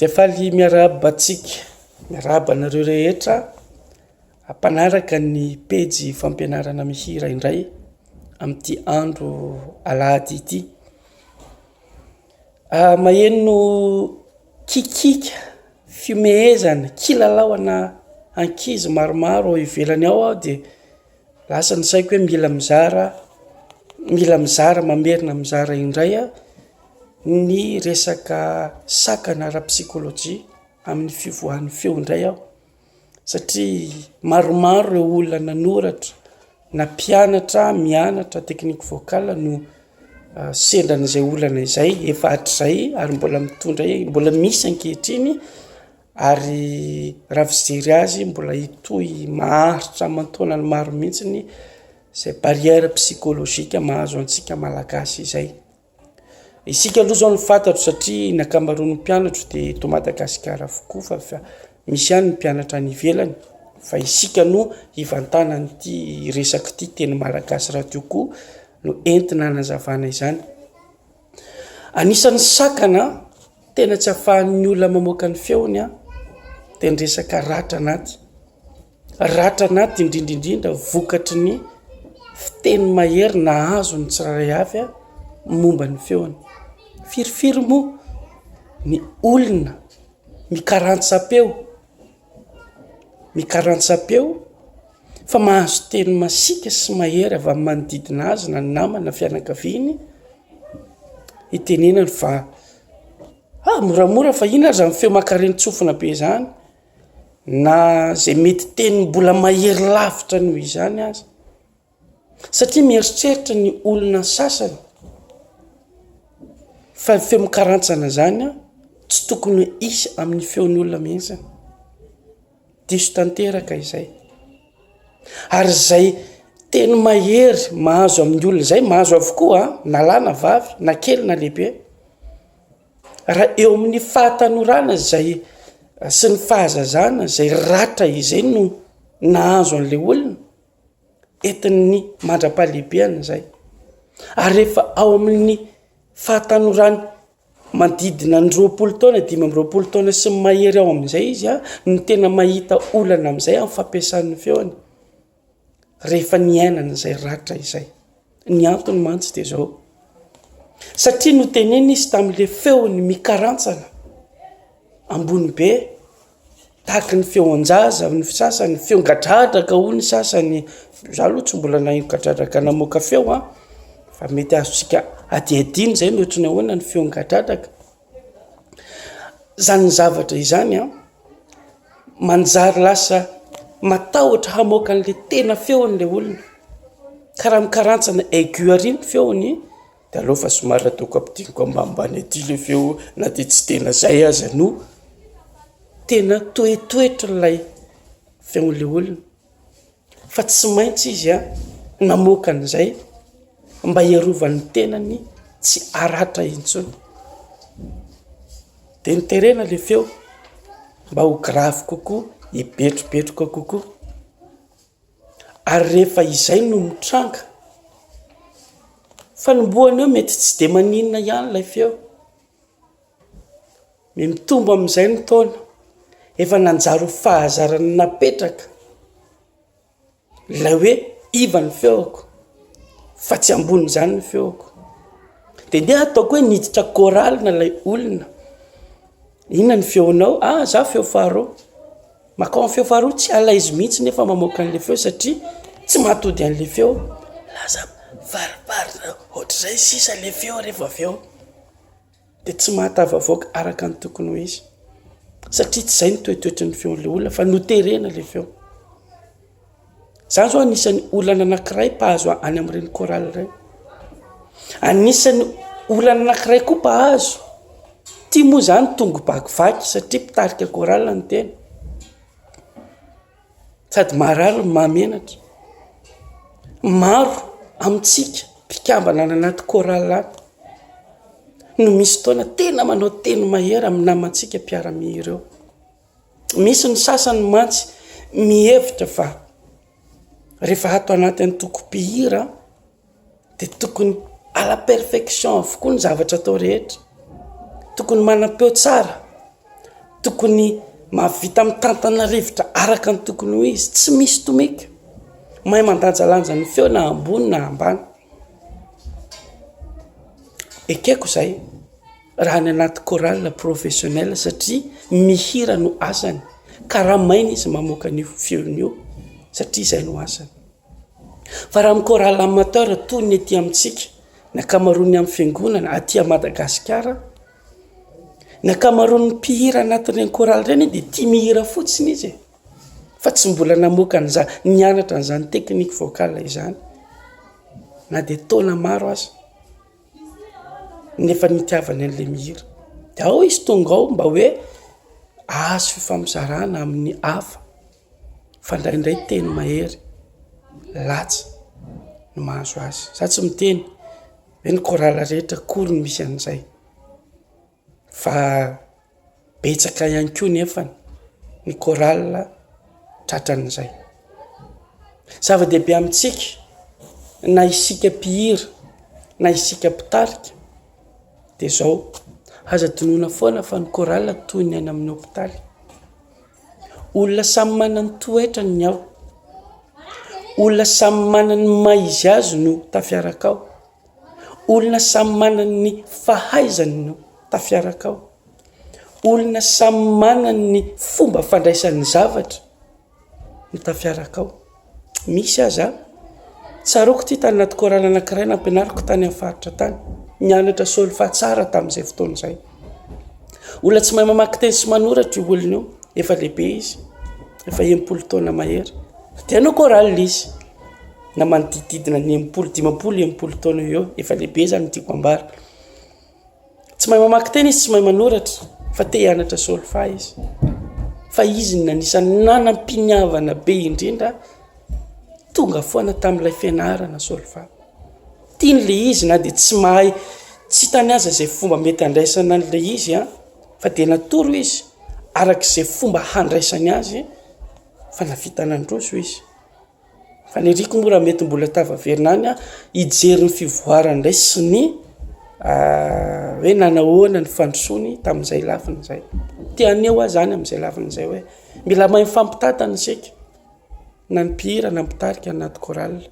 Dia faly miarahaba antsika, miarahaba anareo rehetra mpanaraka ny pejy fampianarana mihira indray amin'ity andro alahady ity. Ah, maheno kikika, fihomehezana, kilalao ana ankizy maromaro ao ivelany ao aho dia. Lasa ny saiko hoe mila mizara mila mizara mamerina mizara indray aho ny resaka sakana ara-psykolojia amin'ny fivoahan'ny feo indray aho satria maromaro ireo olona nanoratra na mpianatra mianatra teknika voakala no sendran'izay olana izay efa hatrizay ary mbola mitondra mbola misy ankehitriny Ary raha fijery azy mbola hitohy maharitra aman-taonany maro mihitsy ny izay barrière psychologique mahazo antsika malagasy izay. Isika aloha izao no fantatro satria ny ankamaroan'ny mpianatro dia eto Madagasikara avokoa fa fa misy ihany ny mpianatra any ivelany fa isika no hivantanan'ity resak'ity teny malagasy radio koa no entina anazavana izany. Anisan'ny sakana tena tsy afahan'ny olona mamoaka ny feony an, dia ny resaka ratra anaty. Ratra anaty indrindra indrindra vokatry ny fiteny mahery nahazo ny tsirairay avy an, momba ny feony. Firifiry moa ny olona mikarantsam-peo. ny karantsampeo fa mahazo teny masiaka sy mahery avy amin'ny manodidina azy na ny namany na fianakaviany hitenenany fa ah moramora fa inona aza ny feo mankarenin-tsofina be izany na izay mety teny mbola mahery lavitra noho izany aza. Satria mieritreritra ny olona sasany fa ny feo mikarantsana izany tsy tokony hisy amin'ny feon'ny olona mihitsy. Diso tanteraka izay. Ary izay teny mahery mahazo amin'ny olona izay, mahazo avokoa na lahy na vavy, na kely na lehibe. Raha eo amin'ny fahatanorana izay sy ny fahazazana izay ratra izay no nahazo an'ilay olona. entin'ny mandra-pahalehibeany izay, ary rehefa ao amin'ny fahatanorany manodidina ny roapolo taona, dimy amby roapolo taona sy ny mahery ao amin'izay izy an, no tena mahita olana amin'izay amin'ny fampiasany ny feony, rehefa niainany izay ratra izay. Ny antony mantsy dia izao, satria notenenina izy tamin'ilay feony mikarantsana, ambony be. Tahaky ny feon-jaza hoy ny sasany, feo gadradraka hoy ny sasany, za aloha tsy mbola naheno gadradraka namoaka feo an, fa mety azontsika hadihadiana izay ny ohatry ny ahoana ny feo gadradraka, izany zavatra izany an, manjary lasa matahotra hamoaka an'ilay tena feon'ilay olona, ka raha mikarantsana aigu àry ny feony. De aleo fa somary ataoko ampidiriko ambanimbany aty ilay feo na dia tsy tena izay aza no tena toetoetry ilay feon'ilay olona, fa tsy maintsy izy an, namoaka an'izay mba hiarovany tenany tsy haratra intsony, de niterena ilay feo mba ho gravy kokoa, hibetrobetroka kokoa. Ary rehefa izay no mitranga, fanombohana eo mety tsy dia maninona ihany ilay feo, dia mitombo amin'izay ny taona, efa nanjary ho fahazarana napetraka ilay hoe iva ny feoko fa tsy ambonin'izany ny feoko, dia ndeha ataoko hoe niditra chorale ilay olona, inona ny feonao? Ah, za feo faharoa. Makao am feo faharoa tsy alaizy mihitsy nefa mamoaka anle feo satria tsy mahatody anle feo lasa varivary ohatrizay sisa le feo refa avy eo de tsy mahatavavoaka araka ny tokony ho izy satria tsy zay ny toetoetry ny feonle olona fa noterena le feo Zany zao anisan'ny olana anakiray mpahazo any amin'ireny chorale ireny. Anisan'ny olana anakiray koa mpahazo, ity moa zany tongo bakivaky satria mpitarika chorale no tena, sady maharary no mahamenatra. Maro amintsika mpikambana any anaty chorale any no misy fotoana tena manao teny mahery amin'ny namantsika mpiara-mihira eo. Misy ny sasany mantsy mihevitra fa rehefa ato anaty antokom-pihira dia tokony à la perfection avokoa ny zavatra atao rehetra, tokony manam-peo tsara, tokony mahavita mitantana rivotra araka ny tokony ho izy, tsy misy tomika, mahay mandanjalanja ny feo na ambony na ambany, ekeko izay. Raha any anaty chorale professionnelle satria mihira no asany, karamaina izy mamoaka an'io feony io satria izay no asany. Fa raha amin'ny chorale amateur toy ny aty amintsika, ny ankamaroan'ny amin'ny fiangonana aty à Madagasikara, ny ankamaroan'ny mpihira anatin'ireny chorale ireny dia tia mihira fotsiny izy e! fa tsy mbola namoaka an'izany, nianatra an'izany technique vocale izany na dia taona maro aza. nefa nitiavany an'ilay mihira de ao izy tonga ao mba hoe ahazo fifampizarana amin'ny hafa fa ndraindray teny mahery latsa no mahazo azy, za tsy miteny hoe ny chorale rehetra akory no misy an'izay. Fa betsaka ihany koa nefa ny chorale tratran'izay. Zava-dehibe amintsika na isika mpihira na isika mpitarika dia zao, aza adinoina foana fa ny chorale toy ny any amin'ny hopitaly, olona samy manana ny toetrany ny ao, olona samy manana ny maha izy azy no tafiaraka ao. Olona samy manana ny fahaizany no tafiaraka ao. Olona samy manana ny fomba fandraisany ny zavatra no tafiaraka ao. Misy aza, tsaroako ity tany anaty chorale anankiray nampianariko tany amin'ny faritra tany, nianatra solfa tsara tamin'izay fotoana izay. Olona tsy mahay mamaky teny sy manoratra io olona io, efa lehibe izy, efa enimpolo taona mahery, dia hanao chorale izy. na manodidididina ny enimpolo dimampolo enimpolo taona eo eo efa lehibe zany tiako ambara tsy mahay mamaky tena izy tsy mahay manoratra fa te hianatra solfa izy fa izy ny nanisany nanam-piniavana be indrindra tonga foana tamin'ilay fianarana solfa tiany le izy na de tsy mahay tsy hitany aza zay fomba mety handraisana an'la izy an fa de natoro izy arak'izay fomba handraisany azy fa navita nandroso izy Faniriako moa raha mety mbola tafaverina any aho hijery ny fivoarany indray sy ny hoe nanao ahoana ny fandrosoany tamin'izay lafiny izay. Te haneho ahy izany amin'izay lafiny izay hoe mila mahay mifampitantana isika, na ny mpihira na ny mpitarika any anaty chorale.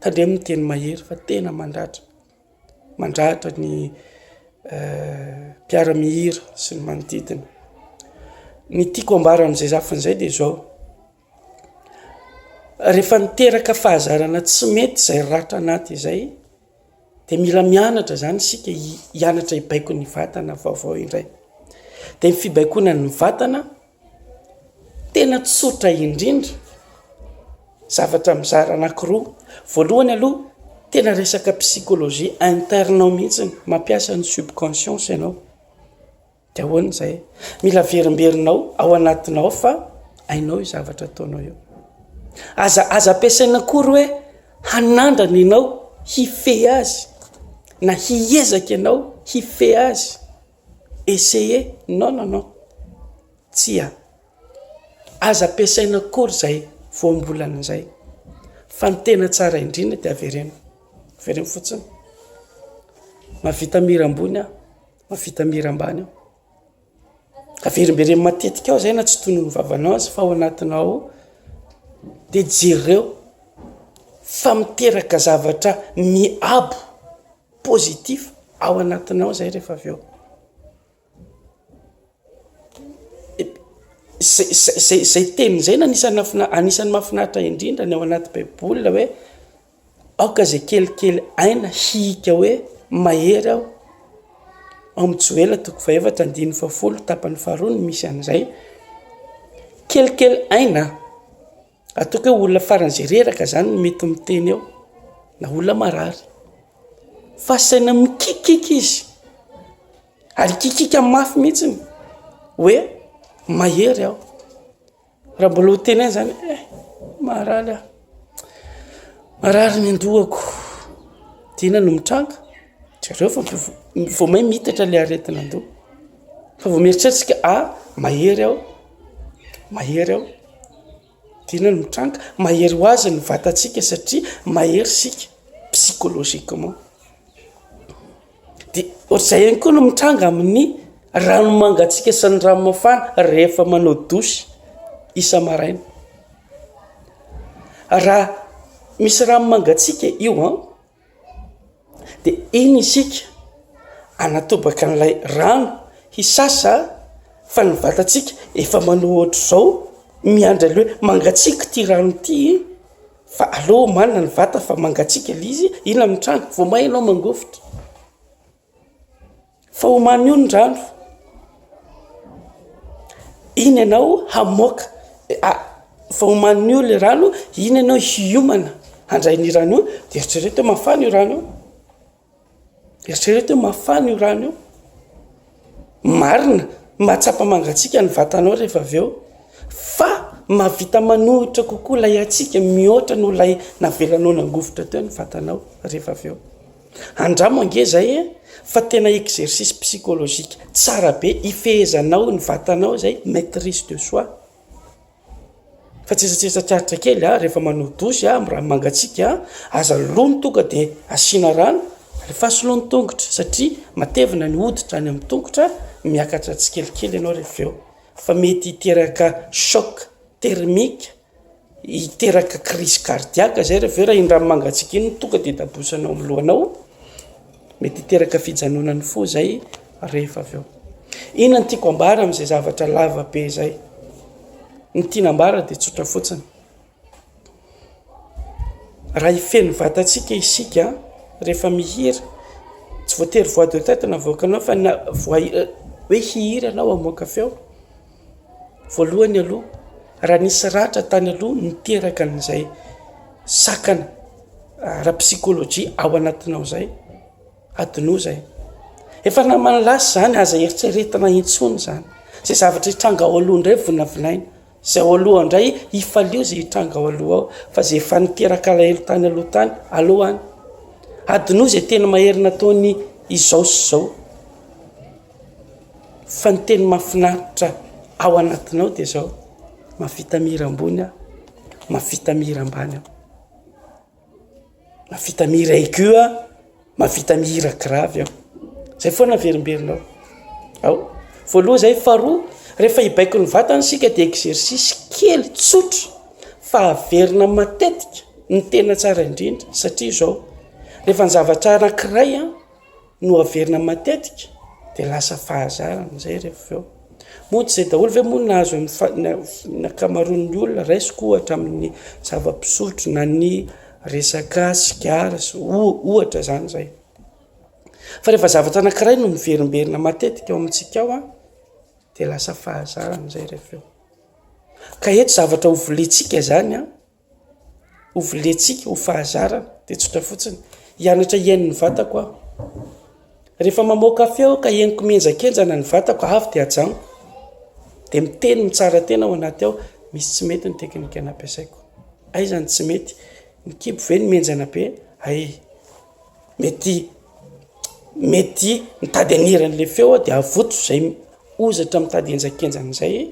Tandremo ny teny mahery fa tena mandratra, mandratra ny mpiara-mihira sy ny manodidina. Ny tiako ambara amin'izay lafiny izay dia izao. Rehefa niteraka fahazarana tsy mety izay ratra anaty izay dia mila mianatra izany isika hianatra hibaiko ny vatana vaovao indray. Dia ny fibaikoana ny vatana tena tsotra indrindra, zavatra mizara anankiroa. Voalohany aloha, tena resaka psychologie interne ao mihitsy, mampiasa ny subconscience ianao. Dia ahoana izay? Mila averimberinao ao anatinao ao fa hainao io zavatra ataonao io. Aza aza ampiasaina akory hoe hanandrana ianao hifehy azy na hiezaka ianao hifehy azy. Essayer. Non non non. Tsia. Aza ampiasaina akory izay voambolana izay. Fa ny tena tsara indrindra dia avereno. Avereno fotsiny. Mavita mira ambony aho. Mahavita mihira ambany aho. Averimbereno matetika ao izay na tsy tonony ny vavanao aza fa ao anatinao ao dia jereo fa miteraka zavatra miabo positif ao anatinao izay rehefa avy eo. Zay zay zay zay teny izay no anisan'ny mahafinaritra indrindra ny ao anaty baiboly hoe. Aoka izay kelikely aina hihika hoe mahery aho, ao amin'ny Joela toko fahaefatra andininy fahafolo tapany faharoa no misy an'izay. Kelikely aina, ataoko hoe olona faran'izay reraka izany no mety miteny eo, na olona marary. Fa asaina mikiakiaka izy, ary hikiakiaka mafy mihitsy hoe mahery aho. Raha mbola ho teneno izany eh marary aho, marary ny an-dohako, dia inona no mitranga? Jereo fa vao may miitatra ilay aretin'an-doha, fa vao mieritreritra isika ah mahery aho, mahery aho, dia inona no mitranga? Mahery ho azy ny vatantsika satria mahery isika psychologiquement. Dia ohatr'izay ihany koa no mitranga amin'ny rano mangatsiaka sy ny rano mafana rehefa manao douche isa-maraina. Raha misy rano mangatsiaka io an, dia iny isika anatobaka an'ilay rano hisasa fa ny vatantsika efa manao ohatr'izao miandry an'ilay hoe mangatsiaka ity rano ity. Fa aleo omanina ny vata fa mangatsiaka ilay izy, inona amin'ny trano? Vao may ianao mangovitra. Fa omanio ny rano. Iny ianao hamoaka, fa omanio ilay rano, iny ianao hiomana handray ny rano io, dia eritrereto hoe mafana io rano io. Eritrereto hoe mafana io rano io. Marina, mahatsapa mangatsiaka ny vatanao rehefa avy eo, fa mahavita manohitra kokoa ilay hatsiaka mihoatra noho ilay navelanao nangovitra teo ny vatanao rehefa avy eo. Andramo ange izay e, fa tena exercice psychologique tsara be ifehezanao ny vatanao izay, maitrise de soi. Fa tsetsatsetsa tsatsa kely a, rehefa manao dosy a, raha mangatsiaka a, aza lony tonga dia asiana rano, alefaso aloha ny tongotra satria matevina ny hoditra any amin'ny tongotra, miakatra tsikelikely ianao rehefa avy eo, fa mety hiteraka choc thermique, hiteraka crise cardiaque zay rehefa avy eo raha iny rano mangatsiaka iny no tonga dia tabosana ao amin'ny lohanao. Mety hiteraka fijanonan'ny fo izay rehefa avy eo. Inona no tiako ambara amin'izay zavatra lava be izay? Ny tiana ambara dia tsotra fotsiny. Raha hifehy vatantsika isika rehefa mihira, tsy voatery voix de tête no avoakanao fa na voix euh, hoe hihira ianao hamoaka feo. Voalohany aloha, raha nisy ratra tany aloha niteraka an'izay sakana ara-psychologie ao anatinao izay, adinoa izay. Efa naman'ny lasa izany, aza eritreretina intsony izany. Izay zavatra hitranga ao aloha indray volavolaina. Izay ao aloha indray, hifalio izay hitranga ao aloha ao, fa izay efa niteraka alahelo tany aloha tany, aleo any. Adinoa izay teny mahery nataony izao sy izao. Fa ny teny mahafinaritra ao anatinao dia izao, mahavita mihira ambony aho, mahavita mihira ambany aho, mahavita mihira aigu aho, mahavita mihira grave aho, izay foana averimberinao ao, voaloha izay, faharoa rehefa hibaiko ny vatana isika dia exercice kely tsotra fa haverina matetika ny tena tsara indrindra satria izao, rehefa ny zavatra anankiray an, no averina matetika dia lasa fahazarana izay rehefa avy eo. Mody izay daholo ve moa nahazo amin'ny fa- na- ny ankamaroan'ny olona, raisiko ohatra amin'ny zava-pisotro na ny resaka sigara sy o- ohatra izany izay. Fa rehefa zavatra anankiray no miverimberina matetika ao amintsika ao a, dia lasa fahazarana izay rehefa avy eo. Ka eto zavatra hovolentsika izany a, Hovolentsika ho fahazarana, dia tsotra fotsiny. Hianatra hihaino ny vatako aho. Rehefa mamoaka feo aho ka henoko mihenjakenjana ny vatako, avy dia ajanoko. Dia miteny mitsara tena ao anaty ao, misy tsy mety ny teknika nampiasaiko. Aiza ny tsy mety? Ny kibo ve no mihenjana be? Hay! Mety mety mitady hanera an'ilay feo aho dia avoto izay hozatra mitady henjakenjana izay.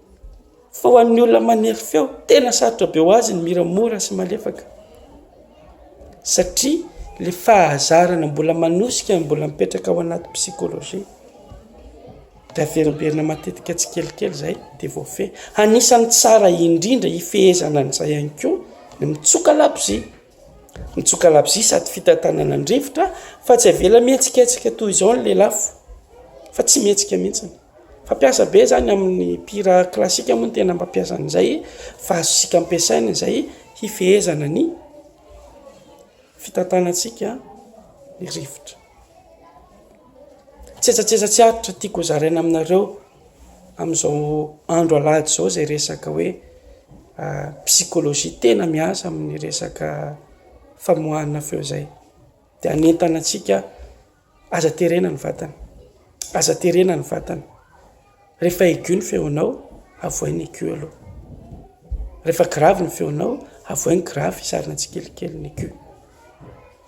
Fa ho an'ny olona manery feo, tena sarotra be ho azy ny mihira mora sy malefaka, satria le fahazarana mbola manosika, mbola mipetraka ao anaty psychologie, dia averimberina matetika tsikelikely izay dia voafehy. Anisan'ny tsara indrindra hifehezana an'izay ihany koa ny mitsoka labozia, mitsoka labozia sady fitantanana an-drivotra fa tsy avela mihetsiketsika toy izao ny lelafo, fa tsy mihetsika mihitsiny. Fampiasa be izany amin'ny mpihira klasika moa no tena mampiasa an'izay fa azontsika ampiasaina izay hifehezana ny fitantanantsika ny rivotra. Tsetsatsesa tsy aritra tiako hozaraina aminareo amin'izao andro alahady izao izay resaka hoe psikology tena miasa amin'ny resaka famoahana feo izay, dia hanentana antsika. Aza terena ny vatana, aza terena ny vatana, rehefa aigu ny feonao, avohay ny aigu aloha, rehefa grave ny feonao, avohay ny grave, hisarona tsikelikely ny aigu.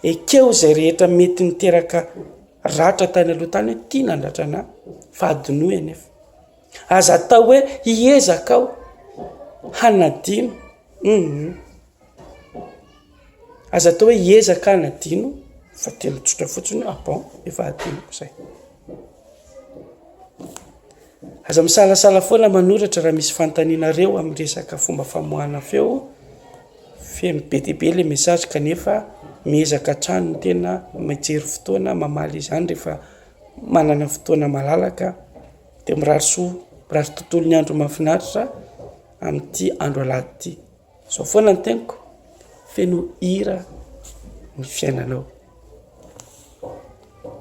Ekeo izay rehetra mety niteraka ratra tany aloha tany hoe ity nandratra anà fa adinoy anefa. Aza atao hoe hiezaka aho hanadino, hum hum. Aza atao hoe hiezaka aho hanadino fa telo tsotra fotsiny ah bon efa hadinoko zay. Aza misalasala foana manoratra raha misy fanontanianareo amin'ny resaka fomba famoahana feo feno be dia be ilay message kanefa miezaka hatrany ny tena mijery fotoana mamaly izany rehefa manana fotoana malalaka dia mirary soa, mirary tontolo ny andro mahafinaritra amin'ity andro alahady ity. Zao foana ny teniko, feno hira ny fiainanao.